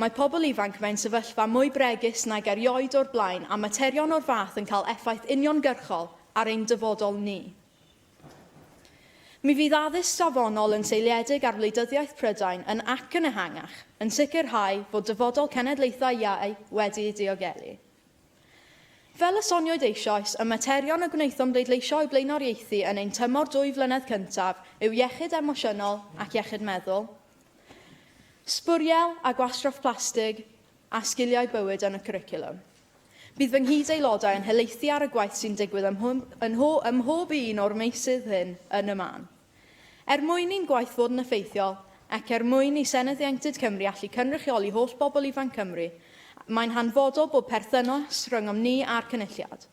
Mae pobl ifanc mewn sefyllfa mwy bregus nag erioed o'r blaen a materion o'r fath yn cael effaith uniongyrchol ar ein dyfodol ni. Mi fydd addysg safonol yn seiliedig ar wleidyddiaeth Prydain yn ac yn ehangach, yn sicrhau fod dyfodol cenedlaethau iau wedi'i diogelu. Fel y sonioyd eisoes, y materion y gwnaethom bleidleisio o'u blaenoriaethu yn ein tymor dwy flynedd cyntaf yw iechyd emosiynol ac iechyd meddwl, Sbwriel a gwastraff plastig a sgiliau bywyd yn y cwricwlwm. Bydd fy nghyd-Aelodau yn helaethu ar y gwaith sy'n digwydd ym mhob un o'r meysydd hyn yn y man. Er mwyn i'n gwaith fod yn effeithiol, ac er mwyn i Senedd Ieuenctid Cymru allu cynrychioli holl bobl ifanc Cymru, mae'n hanfodol bod perthynas rhyngom ni a'r Cynulliad,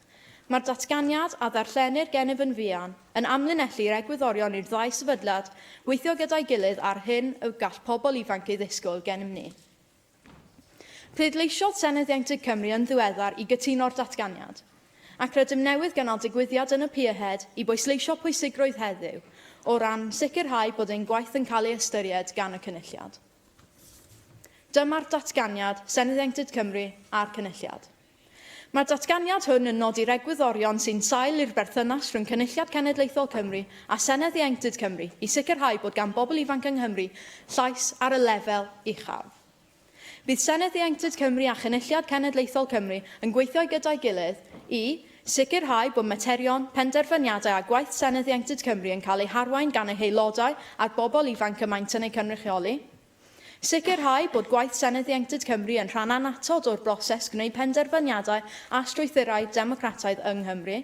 Mae'r datganiad, a ddarllenir gennyf yn fuan, yn amlinellu'r egwyddorion i'r ddau sefydliad weithio gyda'i gilydd a'r hyn y gall pobl ifanc ei ddisgwyl gennym ni. Pleidleisiodd Senedd Ieuenctid Cymru yn ddiweddar i gytuno'r datganiad, ac rydym newydd gynnal digwyddiad yn y Pierhead i bwysleisio pwysigrwydd heddiw o ran sicrhau bod ein gwaith yn cael ei ystyried gan y Cynulliad. Dyma'r datganiad, Senedd Ieuenctid Cymru a'r Cynulliad. Mae'r datganiad hwn yn nodi'r egwyddorion sy'n sail i'r berthynas rhwng Cynulliad Cenedlaethol Cymru a Senedd Ieuenctid Cymru i sicrhau bod gan bobl ifanc yng Nghymru llais ar y lefel uchaf. Bydd Senedd Ieuenctid Cymru a Chynulliad Cenedlaethol Cymru yn gweithio gyda'i gilydd i sicrhau bod materion, penderfyniadau a gwaith Senedd Ieuenctid Cymru yn cael eu harwain gan ei haelodau a'r bobl ifanc y maent yn eu cynrychioli. Sicrhau bod gwaith Senedd Ieuenctid Cymru yn rhan annatod o'r broses gwneud penderfyniadau a strwythurau democrataidd yng Nghymru.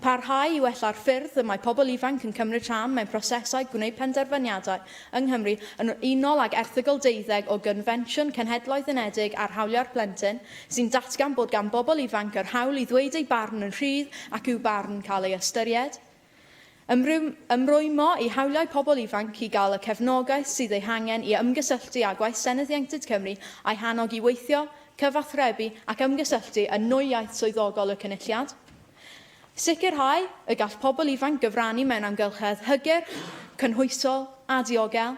Parhau i wella'r ffyrdd y mae pobl ifanc yn cymryd rhan mewn prosesau gwneud penderfyniadau yng Nghymru yn unol ag Erthygl 12 o Gonfensiwn Cenhedloedd Unedig ar Hawliau'r Plentyn, sy'n datgan bod gan bobl ifanc yr hawl i ddweud eu barn yn rhydd ac i'w barn cael ei ystyried. Ymrwymo i hawliau pobl ifanc i gael y cefnogaeth sydd ei hangen i ymgysylltu â gwaith Senedd Ieuenctid Cymru a'i hannog i weithio, cyfathrebu ac ymgysylltu yn nwy iaith swyddogol y Cynulliad. Sicrhau y gall pobl ifanc gyfrannu mewn amgylchedd hygyrch, cynhwysol a diogel.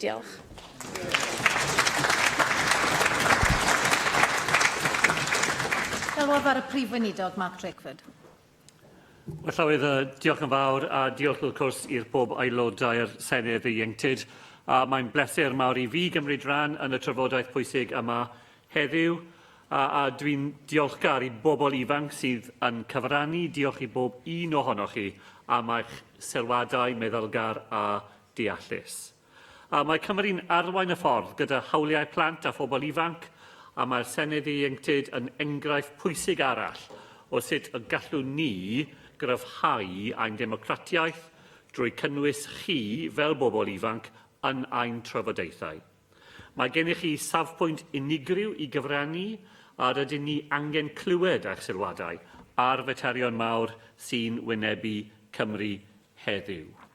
Diolch. Galwaf ar y Prif Weinidog, Mark Drakeford. Wel, Llywydd, diolch yn fawr a diolch wrth cwrs i'r pob aelodau'r Senedd ieuenctid. A mae'n bleser mawr i fi gymryd rhan yn y trafodaeth pwysig yma heddiw a, a dwi'n diolchgar i bobl ifanc sydd yn cyfrannu. Diolch i bob un ohonoch chi am eich sylwadau meddylgar a deallus. A mae Cymru'n arwain y ffordd gyda hawliau plant a phobl ifanc, a mae'r Senedd Ieuenctid yn enghraifft pwysig arall o sut y gallwn ni gryfhau ein democratiaeth drwy cynnwys chi fel bobl ifanc yn ein trafodaethau. Mae gennych chi safpwynt unigryw i gyfrannu a rydyn ni angen clywed eich sylwadau ar faterion mawr sy'n wynebu Cymru heddiw.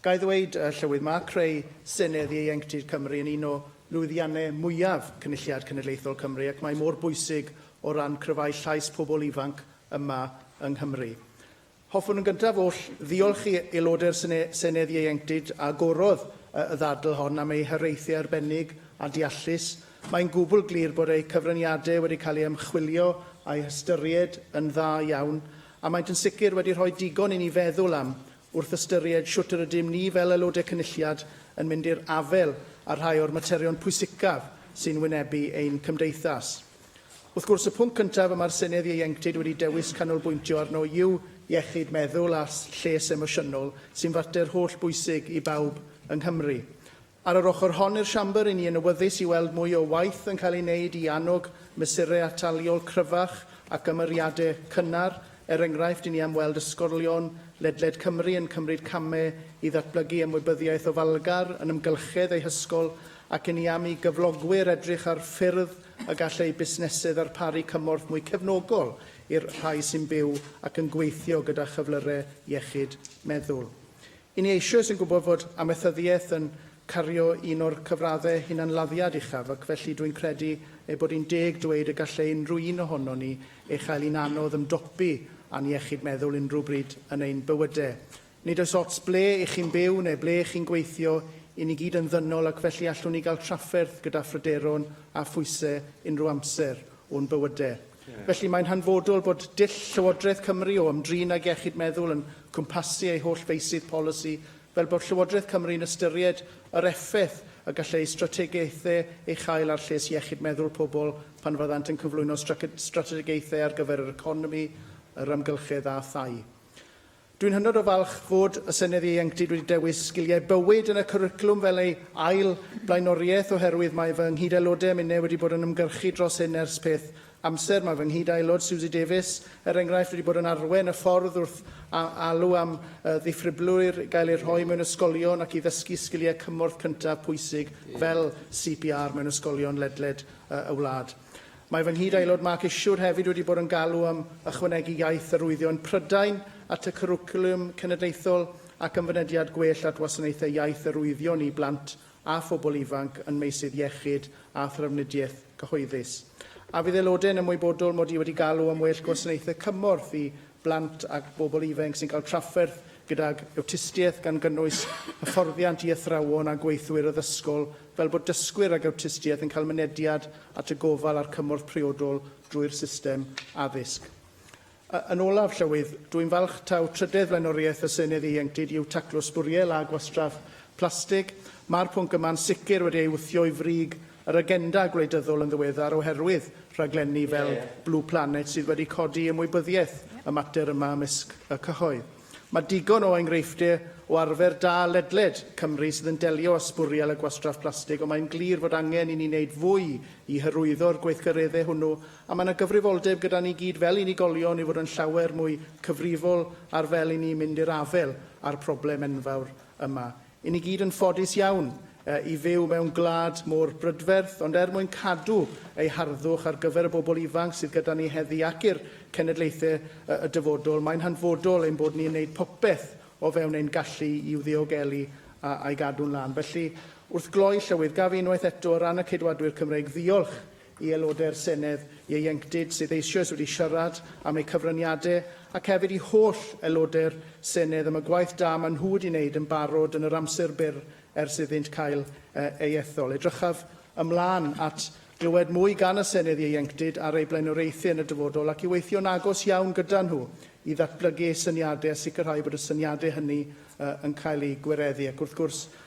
Ga i ddweud, y Llywydd, mae creu Senedd Ieuenctid Cymru yn un o lwyddiannau mwyaf Cynulliad Cenedlaethol Cymru ac mae mor bwysig o ran cryfhau llais pobl ifanc yma yng Nghymru. Hoffwn yn gyntaf oll ddiolch i aelodau'r Senedd Ieuenctid a agorodd y ddadl hon am eu hiraethau arbennig a deallus. Mae'n gwbl glir bod eu cyfraniadau wedi cael eu ymchwilio a'u hystyried yn dda iawn a maent yn sicr wedi rhoi digon i ni feddwl am Wrth ystyried shwt yr ydym ni fel Aelodau Cynulliad yn mynd i'r afael â rhai o'r materion pwysicaf sy'n wynebu ein cymdeithas. Wrth gwrs, y pwnc cyntaf y mae'r Senedd Ieuenctid wedi dewis canolbwyntio arno yw iechyd meddwl a lles emosiynol, sy'n fater holl bwysig i bawb yng Nghymru. Ar yr ochr hon i'r Siambr, ry'n ni yn awyddus i weld mwy o waith yn cael ei wneud i annog mesurau ataliol cryfach ac ymyriadau cynnar, er enghraifft, ry'n ni am weld ysgolion ledled Cymru yn cymryd camau i ddatblygu ymwybyddiaeth ofalgar yn ymgylchedd eu hysgol ac ry'n ni am i gyflogwyr edrych ar ffyrdd y gall eu busnesau ddarparu cymorth mwy cefnogol i'r rhai sy'n byw ac yn gweithio gyda chyflyrau iechyd meddwl. Yn ni eisoes yn gwybod fod amaethyddiaeth yn cario un o'r cyfraddau hunanladdiad uchaf ac felly dw i'n credu ei bod hi'n deg dweud y gallai unrhyw un ohonon ni ei chael hi'n anodd ymdopi â'n iechyd meddwl unrhyw bryd yn ein bywydau. Nid oes ots ble i chi'n byw neu ble i chi'n gweithio, i ni gyd yn ddynol ac felly allwn ni gael trafferth gyda phryderon a phwysau unrhyw amser o'n bywydau. Felly, mae'n hanfodol bod dull Llywodraeth Cymru o ymdrin ag iechyd meddwl yn cwmpasu ei holl feysydd polisi, fel bod Llywodraeth Cymru'n ystyried yr effaith y gall ei strategaethau ei chael ar lles iechyd meddwl pobl pan fyddant yn cyflwyno strategaethau ar gyfer yr economi, yr amgylchedd a thai. Dwi'n hynod o falch fod y Senedd Ieuenctid wedi dewis Sgiliau Bywyd yn y cwricwlwm fel ei ail flaenoriaeth oherwydd mae fy nghyd-aelodau a minnau wedi bod yn ymgyrchu dros hyn ers peth amser. Mae fy nghyd-aelod Suzy Davies, er enghraifft, wedi bod yn arwain y ffordd wrth alw am ddifribrylwyr i gael eu rhoi mewn ysgolion ac i ddysgu sgiliau cymorth cyntaf pwysig fel CPR mewn ysgolion ledled y wlad. Mae fy nghyd-Aelod Mark Isherwood hefyd wedi bod yn galw am ychwanegu iaith arwyddion Prydain at y cwricwlwm cenedlaethol ac am fynediad gwell at wasanaethau iaith arwyddion i blant a phobl ifanc yn meysydd iechyd a thrafnidiaeth gyhoeddus. A fydd Aelodau yn ymwybodol mod i wedi galw am well gwasanaethau cymorth i blant ac bobl ifainc sy'n cael trafferth gydag awtistiaeth gan gynnwys hyfforddiant i athrawon a gweithwyr addysgol fel bod dysgwyr ag awtistiaeth yn cael mynediad at y gofal a'r cymorth priodol drwy'r system addysg. A, yn olaf, Llywydd, dw i'n falch taw trydedd flaenoriaeth y Senedd Ieuenctid yw taclo sbwriel a gwastraff plastig. Mae'r pwnc yma'n sicr wedi ei wthio i frig yr agenda gwleidyddol yn ddiweddar oherwydd rhaglenni fel Blue Planet sydd wedi codi ymwybyddiaeth y mater yma ymysg y cyhoedd. Mae digon o enghreifftiau o arfer da ledled Cymru sydd yn delio â sbwriel a gwastraff plastig ond mae'n glir fod angen i ni wneud fwy i hyrwyddo'r gweithgareddau hwnnw a mae yna gyfrifoldeb gyda ni gyd fel unigolion i fod yn llawer mwy cyfrifol ar fel i ni mynd i'r afael â'r problem enfawr yma. I ni gyd yn ffodus iawn i fyw mewn gwlad mor brydferth, ond er mwyn cadw ei harddwch ar gyfer y bobl ifanc sydd gyda ni heddi ac i'r cenedlaethau y dyfodol, mae'n hanfodol ein bod ni'n gwneud popeth o fewn ein gallu i'w ddiogelu a'i gadw'n lân. Felly, wrth gloi, Llywydd, gaf i unwaith eto, o ran y Ceidwadwyr Cymreig, ddiolch i Aelodau'r Senedd ieuenctid sydd eisoes wedi siarad am eu cyfraniadau ac hefyd i holl Aelodau'r Senedd am y gwaith da maen nhw wedi wneud yn barod yn yr amser byr ers iddynt cael eu ethol. Edrychaf ymlaen at glywed mwy gan y Senedd ieuenctid ar eu blaenoriaethau yn y dyfodol ac i weithio'n agos iawn gyda nhw i ddatblygu eu syniadau a sicrhau bod y syniadau hynny yn cael eu gwireddu ac wrth gwrs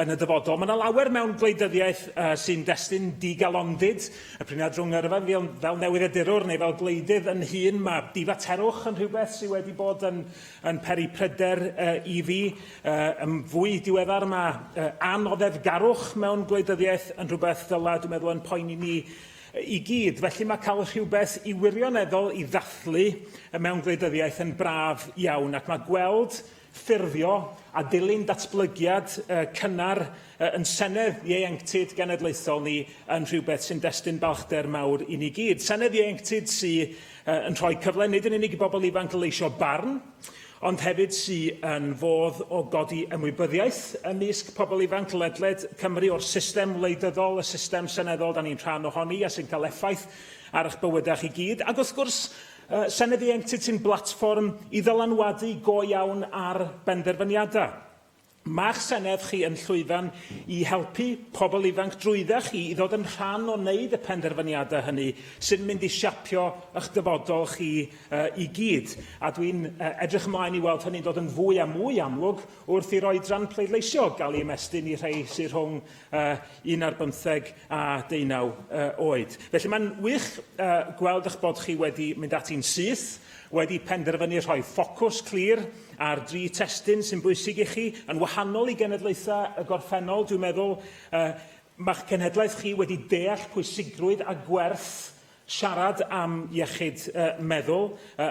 Yn y dyfodol, mae yna lawer mewn gwleidyddiaeth uh, sy'n destun digalondid. Y priniad rhwng yrfa fel, fel newyddiadurwr neu fel gwleidydd yn hun, mae difaterwch yn rhywbeth sydd wedi bod yn, yn peri pryder uh, i fi. Uh, yn fwy diweddar, mae uh, anoddefgarwch mewn gwleidyddiaeth yn rhywbeth ddyla, dwi'n meddwl, yn poeni ni i gyd. Felly mae cael rhywbeth i wirioneddol i ddathlu mewn gwleidyddiaeth yn braf iawn ac mae gweld ffurfio a dilyn datblygiad y cynnar yn Senedd Ieuenctid Genedlaethol ni yn rhywbeth sy'n destun balchder mawr i ni gyd. Senedd Ieuenctid sy yn rhoi cyfle nid yn unig i bobl ifanc leisio barn, ond hefyd sy yn fodd o godi ymwybyddiaeth ymysg pobl ifanc ledled Cymru o'r system wleidyddol, y system seneddol da ni'n rhan ohoni a sy'n cael effaith ar eich bywydau chi gyd. Ac wrth gwrs, Senedd i Entiti'n blatfform i ddylanwadu go iawn ar benderfyniadau. Mae'ch Senedd chi yn llwyfan i helpu pobl ifanc drwydda chi i ddod yn rhan o wneud y penderfyniadau hynny sy'n mynd i siapio y'ch dyfodol chi i gyd, a dwi'n edrych ymlaen i weld hynny'n dod yn fwy a mwy amlwg wrth i'r oedran pleidleisio gael ei ymestyn i rhei sy rhwng uh, 11 a 19 uh, oed. Felly mae'n wych uh, gweld eich bod chi wedi mynd ati'n syth, wedi penderfynu rhoi ffocws clir ar dri testyn sy'n bwysig i chi, yn wahanol i genedlaethau y gorffennol, dwi'n meddwl, uh, mae'ch cenhedlaeth chi wedi deall pwysigrwydd a gwerth Siarad am iechyd meddwl,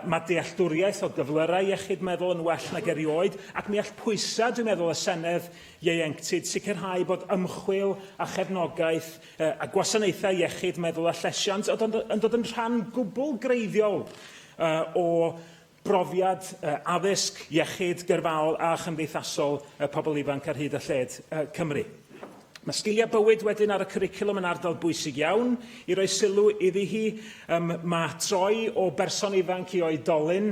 mae dealltwriaeth o gyflyrau iechyd meddwl yn well nag erioed, ac mi all pwysau, dwi'n meddwl, y Senedd ieuenctid sicrhau bod ymchwil a chefnogaeth a gwasanaethau iechyd meddwl a llesiant yn dod yn rhan gwbl greiddiol o brofiad addysg, iechyd, gyrfaol a chymdeithasol pobl ifanc ar hyd a lled Cymru. Mae sgiliau bywyd wedyn ar y cwricwlwm yn ardal bwysig iawn i roi sylw iddi hi. Um, mae troi o berson ifanc i oedolyn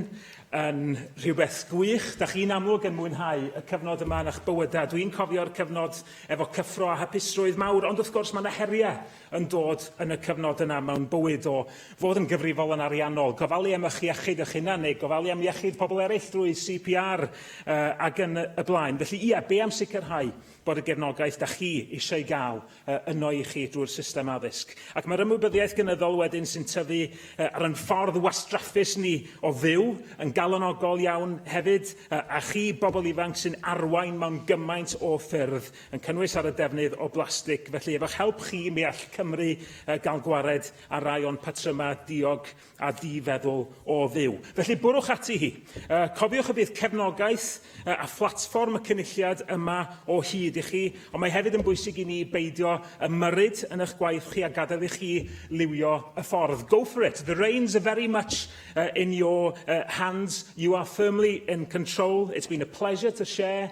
yn rhywbeth gwych. Da chi'n amlwg yn mwynhau y cyfnod yma yn eich bywydau. Dwi'n cofio'r cyfnod efo cyffro a hapusrwydd mawr, ond wrth gwrs mae yna heriau yn dod yn y cyfnod yna mewn bywyd o fod yn gyfrifol yn ariannol, gofalu am ych iechyd eich hunan neu gofalu am iechyd pobl eraill drwy CPR uh, ac yn y blaen. Felly ie, be am sicrhau bod y gefnogaeth da chi eisiau ei gael uh, yno i chi drwy'r system addysg. Ac mae'r ymwybyddiaeth gynyddol wedyn sy'n tyfu uh, ar ein ffordd wastraffus ni o fyw yn galonogol iawn hefyd, uh, a chi, bobl ifanc sy'n arwain mewn gymaint o ffyrdd, yn cynnwys ar y defnydd o blastig. Felly, efo'ch help chi, mi all Cymru uh, gael gwared ar rai o'n patrymau diog a di-feddwl o fyw. Felly, bwrwch ati hi. Uh, cofiwch y bydd cefnogaeth uh, a phlatfform y cynulliad yma o hyd i chi, ond mae hefyd yn bwysig i ni beidio ymyrryd yn eich gwaith chi a gadael i chi liwio y ffordd. Go for it. The reins are very much uh, in your uh, hands. You are firmly in control. It's been a pleasure to share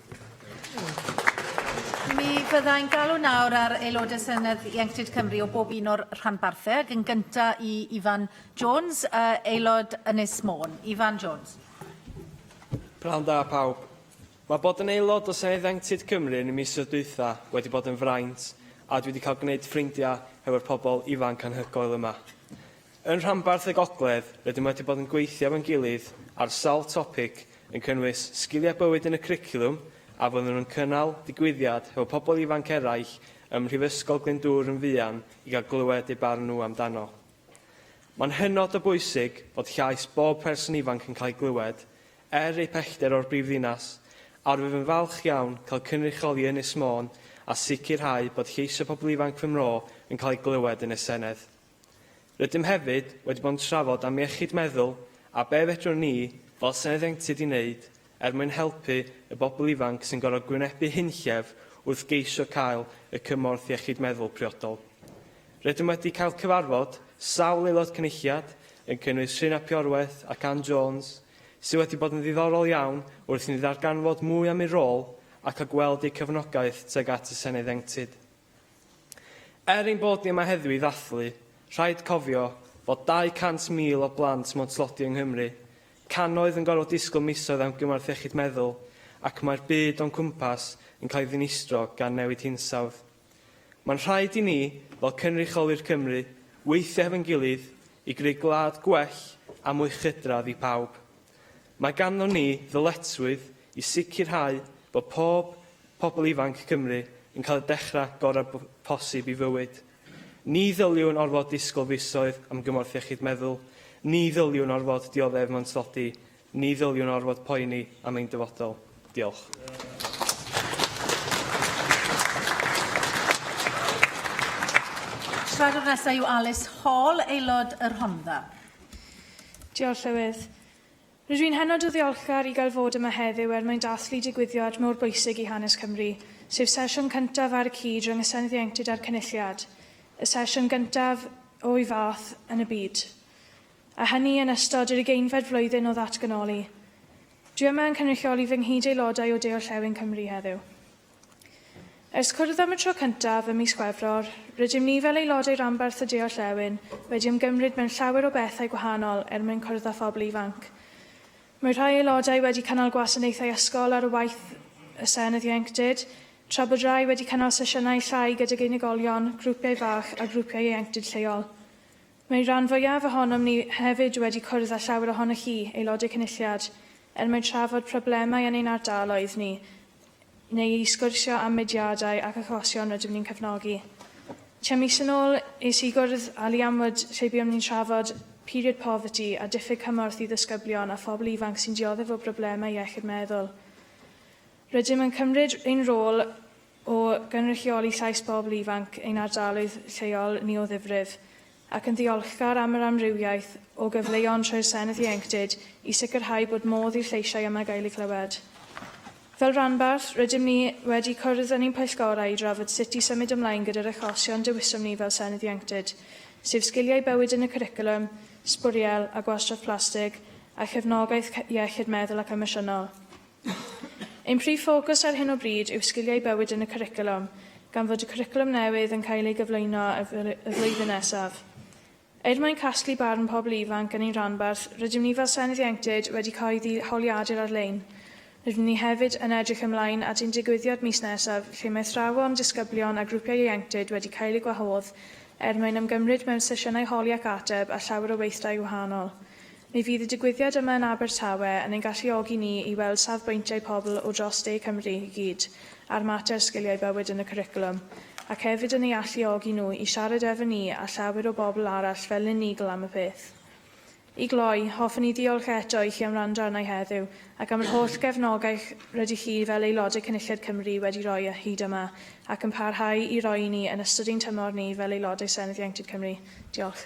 Mi fyddai'n galw nawr ar aelodau Senedd Ieuenctid Cymru o bob un o'r rhanbarthau, ac yn gyntaf i Ifan Jones, uh, aelod Ynys Môn. Ifan Jones. Prawn da pawb. Mae bod yn aelod o Senedd Ieuenctid Cymru yn y misoedd dwytha wedi bod yn fraint a dwi wedi cael gwneud ffrindiau hefo'r pobl ifanc anhygoel yma. Yn Rhanbarth y Gogledd, rydym wedi bod yn gweithio efo'n gilydd ar sawl topig yn cynnwys Sgiliau Bywyd yn y Cwricwlwm a fyddwn nhw'n cynnal digwyddiad hefo pobl ifanc eraill ym Mhrifysgol Glyndŵr yn fuan i gael clywed eu barn nhw amdano. Mae'n hynod o bwysig bod llais bob person ifanc yn cael ei glywed, er eu pellter o'r brifddinas, a rwyf yn falch iawn cael cynrychioli Ynys Môn a sicrhau bod lleisiau pobl ifanc fy mro yn cael eu glywed yn y Senedd. Rydym hefyd wedi bod yn trafod am iechyd meddwl a be' fedrwn ni fel Senedd Ieuenctid i wneud er mwyn helpu y bobl ifanc sy'n gorfod gwynebu hunllef wrth geisio cael y cymorth iechyd meddwl priodol. Rydym wedi cael cyfarfod sawl Aelod Cynulliad, yn cynnwys Rhun ap Iorwerth ac Ann Jones, sydd wedi bod yn ddiddorol iawn wrth i ni ddarganfod mwy am eu rôl ac a gweld eu cefnogaeth tuag at y Senedd Ieuenctid. Er ein bod ni yma heddiw i ddathlu, rhaid cofio fod 200,000 o blant mewn tlodi yng Nghymru, cannoedd yn gorfod disgwyl misoedd am gymorth iechyd meddwl, ac mae'r byd o'n cwmpas yn cael ei ddinistro gan newid hinsawdd. Mae'n rhaid i ni, fel cynrychiolwyr Cymru, weithio hefo'n gilydd i greu gwlad gwell a mwy chydradd i pawb. Mae ganddo ni ddyletswydd i sicrhau bod pob pobl ifanc Cymru yn cael y dechrau gorau posib i fywyd. Ni ddyliwn orfod disgwyl fisoedd am gymorth iechyd meddwl, ni ddyliwn orfod dioddef mewn tlodi, ni ddyliwn orfod poeni am ein dyfodol. Diolch. Siaradwr nesaf yw Alice Hall, Aelod y Rhondda. Diolch, Llywydd. Rydw i'n hynod o ddiolchgar i gael fod yma heddiw er mwyn dathlu digwyddiad mor bwysig i hanes Cymru, sef sesiwn cyntaf ar y cyd rhwng y Senedd Ieuenctid a'r Cynulliad, y sesiwn gyntaf o'i fath yn y byd, a hynny yn ystod yr ugeinfed flwyddyn o ddatganoli. Dwi yma yn cynrychioli fy nghyd-Aelodau o De-orllewin Cymru heddiw. Ers cwrdd am y tro cyntaf ym mis Chwefror, rydym ni fel aelodau ranbarth y de-orllewin wedi ymgymryd mewn llawer o bethau gwahanol er mwyn cwrdd â phobl ifanc. Mae rhai aelodau wedi cynnal gwasanaethau ysgol ar y waith y Senedd Ieuenctid, tra bod rhai wedi cynnal sesiynau llai gydag unigolion, grwpiau fach a grwpiau ieuenctid lleol. Mae rhan fwyaf ohonom ni hefyd wedi cwrdd â llawer ohonoch chi, Aelodau Cynulliad, er mwyn trafod problemau yn ein ardaloedd ni, neu i sgwrsio am mudiadau ac achosion rydym ni'n cefnogi. Tua mis yn ôl, es i gwrdd â Liam Wood lle buom ni'n trafod period poverty a diffyg cymorth i ddisgyblion a phobl ifanc sy'n dioddef o broblemau iechyd meddwl. Rydym yn cymryd ein rôl o gynrychioli llais pobl ifanc ein ardaloedd lleol ni o ddifrif, ac yn ddiolchgar am yr amrywiaeth o gyfleon trwy'r Senedd Ieuenctid i sicrhau bod modd i'r lleisiau yma gael eu clywed. Fel rhanbarth, rydym ni wedi cwrdd yn ein pwyllgorau i drafod sut i symud ymlaen gyda'r achosion dewisom ni fel Senedd Ieuenctid, sef sgiliau bywyd yn y cwricwlwm, sbwriel a gwastraff plastig, a chefnogaeth iechyd meddwl ac emosiynol. Ein prif ffocws ar hyn o bryd yw sgiliau bywyd yn y cwricwlwm, gan fod y cwricwlwm newydd yn cael ei gyflwyno y flwyddyn nesaf. Er mwyn casglu barn pobl ifanc yn ein rhanbarth, rydym ni fel Senedd Ieuenctid wedi cyhoeddi holiadur ar-lein. Rydym ni hefyd yn edrych ymlaen at ein digwyddiad mis nesaf lle mae athrawon, disgyblion a grwpiau ieuenctid wedi cael eu gwahodd er mwyn ymgymryd mewn sesiynau holi ac ateb a llawer o weithdai gwahanol. Mi fydd y digwyddiad yma yn Abertawe yn ein galluogi ni i weld safbwyntiau pobl o dros de Cymru i gyd ar mater sgiliau bywyd yn y cwricwlwm, ac hefyd yn eu alluogi nhw i siarad efo ni a llawer o bobl arall fel unigl am y peth. I gloi, hoffwn i ddiolch eto i chi am wrando arna i heddiw, ac am yr holl gefnogaeth rydych chi fel Aelodau Cynulliad Cymru wedi rhoi hyd yma, ac yn parhau i roi i ni yn ystod ein tymor ni fel Aelodau Senedd Ieuenctid Cymru. Diolch.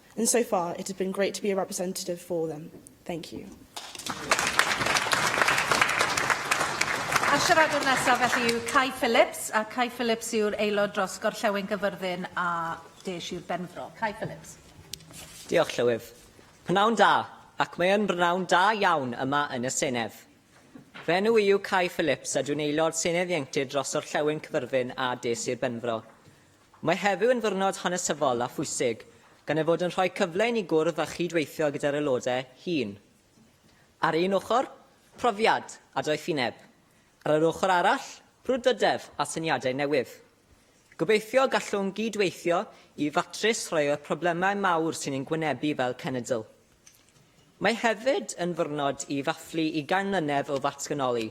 And so far, it has been great to be a representative for them. Thank you. A siaradwr nesaf felly yw Kai Phillips, a Kai Phillips yw'r aelod dros Gorllewin Gyfyrddin a De Sir Benfro. Kai Phillips. Diolch, Llywydd. Pnawn da, ac mae yn bnawn da iawn yma yn y Senedd. Fy enw i yw Kai Phillips a dwi'n aelod Senedd Ieuenctid dros Orllewin Cyfyrddin a De Sir Benfro. Mae heddiw yn ddiwrnod hanesyddol a phwysig gan ei fod yn rhoi cyfle i ni gwrdd a chyd-weithio gyda'r aelodau hŷn. Ar un ochr, profiad a doethineb. Ar yr ochr arall, brwdfrydedd a syniadau newydd. Gobeithio gallwn gyd-weithio i ddatrys rhai o'r problemau mawr sy'n ein gwynebu fel cenedl. Mae hefyd yn ddiwrnod i ddathlu ugain mlynedd o ddatganoli,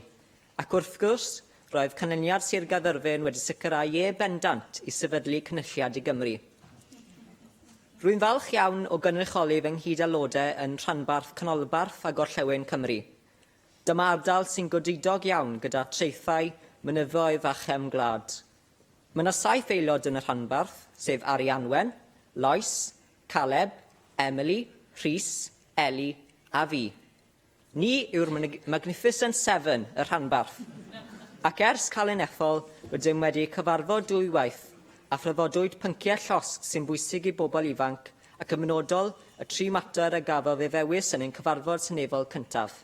Ac wrth gwrs, roedd canlyniad Sir Gaerfyrddin wedi sicrhau ie bendant i sefydlu Cynulliad i Gymru. Rwy'n falch iawn o gynrychioli fy nghyd-Aelodau yn rhanbarth canolbarth a gorllewin Cymru. Dyma ardal sy'n godidog iawn gyda traethau, mynyddoedd a chefn gwlad. Mae yna saith aelod yn y rhanbarth, sef Arianwen, Lois, Caleb, Emily, Rhys, Ellie a fi. Ni yw'r Magnificent Seven y rhanbarth, ac ers Calan Ethol rydym wedi cyfarfod dwywaith a thrafodwyd pynciau llosg sy'n bwysig i bobl ifanc ac yn benodol y tri mater a gafodd ei ddewis yn ein cyfarfod seneddol cyntaf.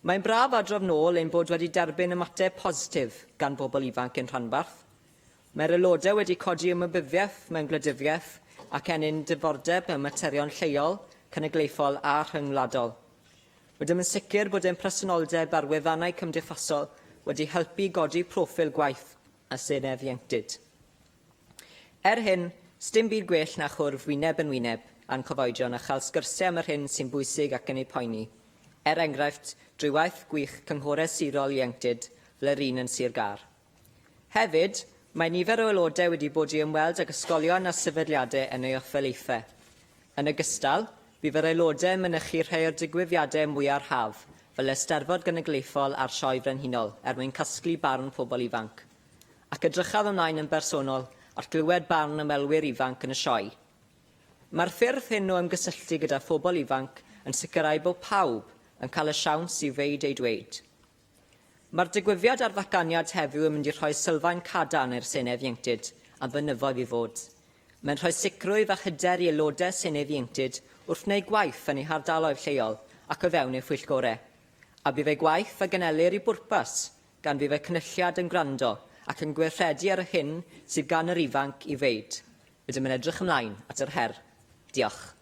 Mae'n braf adrodd nôl ein bod wedi derbyn ymateb positif gan bobl ifanc ein rhanbarth. Mae'r Aelodau wedi codi ymwybyddiaeth mewn gwleidyddiaeth ac ennyn diddordeb mewn materion lleol, cenedlaethol a rhyngwladol. Rydym yn sicr bod ein presenoldeb ar wefannau cymdeithasol wedi helpu i godi proffil gwaith y Senedd Ieuenctid. Er hyn, sdim byd gwell na chwrdd wyneb yn wyneb â'n cyfoedion a chael sgyrsiau am yr hyn sy'n bwysig ac yn eu poeni, er enghraifft, drwy waith gwych Cynghorau Sirol Ieuenctid fel yr un yn Sir Gâr. Hefyd, mae nifer o Aelodau wedi bod i ymweld ag ysgolion a sefydliadau yn ei ofalaethau. Yn ogystal, bu fy Aelodau yn mynychu rhai o'r digwyddiadau mwyaf haf, fel yr Eisteddfod Genedlaethol a'r Sioe Frenhinol, er mwyn casglu barn pobl ifanc. Ac edrychaf ymlaen yn bersonol at glywed barn ymwelwyr ifanc yn y sioe. Mae'r ffyrdd hyn o ymgysylltu gyda phobl ifanc yn sicrhau bod pawb yn cael y siawns i ddweud eu dweud. Mae'r digwyddiad a'r ddatganiad heddiw yn mynd i rhoi sylfaen cadarn i'r Senedd Ieuenctid a fynyddoedd i fod. Mae'n rhoi sicrwydd a hyder i Aelodau Senedd Ieuenctid wrth wneud gwaith yn eu hardaloedd lleol ac o fewn eu phwyllgorau. A bydd eu gwaith a genelir i bwrpas, gan fydd y Cynulliad yn gwrando ac yn gweithredu ar yr hyn sydd gan yr ifanc i ddeud. Rydym yn edrych ymlaen at yr her. Diolch.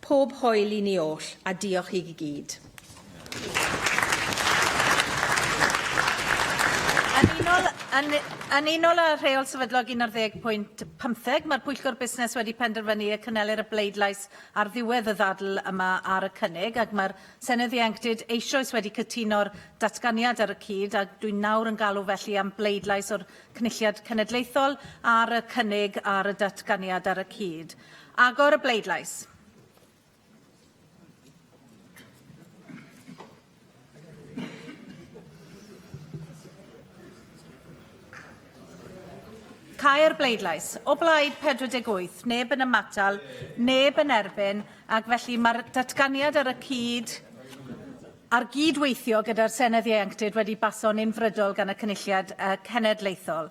Pob hwyl i ni oll, a diolch i gyd. Yn unol, yn, yn unol â rheol sefydlog 11.15, mae'r Pwyllgor Busnes wedi penderfynu y cynhelir y bleidlais ar ddiwedd y ddadl yma ar y cynnig, ac mae'r Senedd Ieuenctid eisoes wedi cytuno'r datganiad ar y cyd, a dwi'n nawr yn galw felly am bleidlais o'r Cynulliad Cenedlaethol ar y cynnig ar y datganiad ar y cyd. Agor y bleidlais. Cau'r bleidlais. O blaid 48, neb yn ymatal, neb yn erbyn, ac felly mae'r datganiad ar y cyd a'r gydweithio gyda'r Senedd Ieuenctid wedi baso'n unfrydol gan y Cynulliad uh, Cenedlaethol.